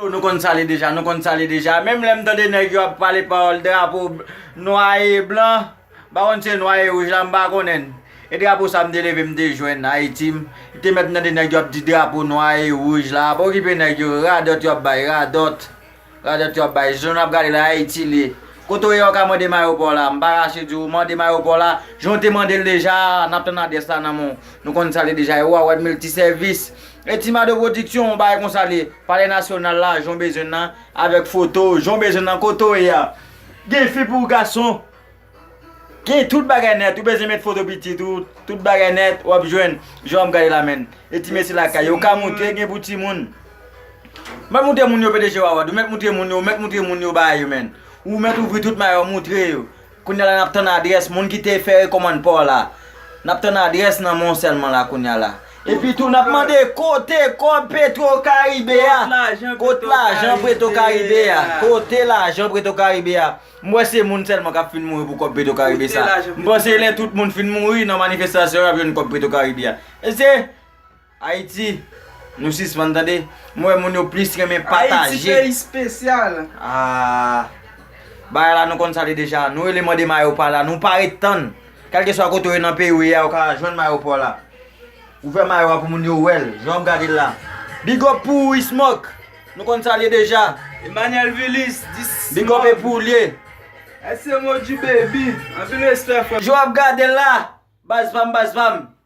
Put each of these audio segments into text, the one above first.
Oh nou konn sale deja, nou konn sale deja Menm lèm tande nèg yo ap pale pawòl drapo nwa e blan Mpa konn si se nwa e wouj la mpa konnenn E drapo sa mte leve mte jwenn Ayiti m te mèt tande nèg yo ap di drapo nwa e wouj la Pa okipe nèg yo radòt yo ap bay radòt Radòt yo ap bay Jan nap gade la Ayiti l ye Kote w ye ou ka mande m ayopò la Mpa rache di w mande m ayopò la Jan w te mande l deja a Nap tann adrès la nan men w Nou konn sale deja e ou a wè miltisèvis E ti mado production on bagay konsa li palè nasyonal la jon bezwen nan avèk foto jon bezwen nan kote w ye a gen fi pou gason gen tout bagay nèt ou bezwen met foto pitit ou tout bagay nèt wap jwenn jan wap gade la menn e ti mesye lakay yo ou ka moutre gen pou timoun mèt moutre moun yo pdg wawa dou mèt moutre moun yo mèt moutre moun yo bagay yo menn ou mèt ouvri tout mayo moutre yo Kounya la nap tann adrès moun ki te fè rekòmand paw la nap tann adrès nan menw sèlman la kounya la epi tou nap mande kote kòb petro karibe a kot lajan preto karibe a kote lajan preto karibe a m wè se moun sèlman kap fin mouri pou kòb petro karibe sa m panse lè tout moun fin mouri nan manifestasyon yo yap jwenn kòb preto karibe a e se Ayiti Nou sispann tande m wè moun yo plis renmen pataje Ayiti peyi spesyal Aah Bagay la nou konn sa li deja Nou rele mande mayo pa la nou pa ret tann Kèlkeswa kote ou ye nan peyi ou ye a ou ka jwenn mayo paw la Ouvè mayo a pou moun yo wèl jan wap gadel la Big up pou ou Ismock Nou konn sa li ye deja Emmanuel Vilis di Sismock Big up e pou ou li ye Ese Modji Baby Anpil respè frèm Jan wap gadel la Baz pam baz pam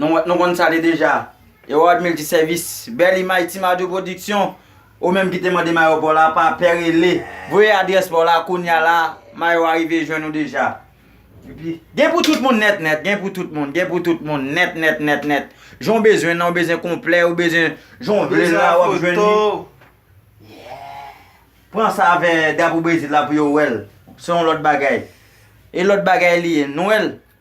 Nou konn sa li deja. Herard Multiservis, bèl imaj Ti Mado Production, ou menm ki te mande mayo paw la, pa pè rele, voye adrès paw la kounya la, mayo a rive jwenn ou deja. Gen pou tout moun nèt nèt, gen pou tout moun, gen pou tout moun nèt nèt nèt nèt. Jan w bezwen l lan, ou bezwen konplè, ou bezwen jan w vle l la wap jwenn li. Pran sa avè Drapo Brezil la pou yo wè l, se yon lòt bagay. E lòt bagay li ye, nou wè l.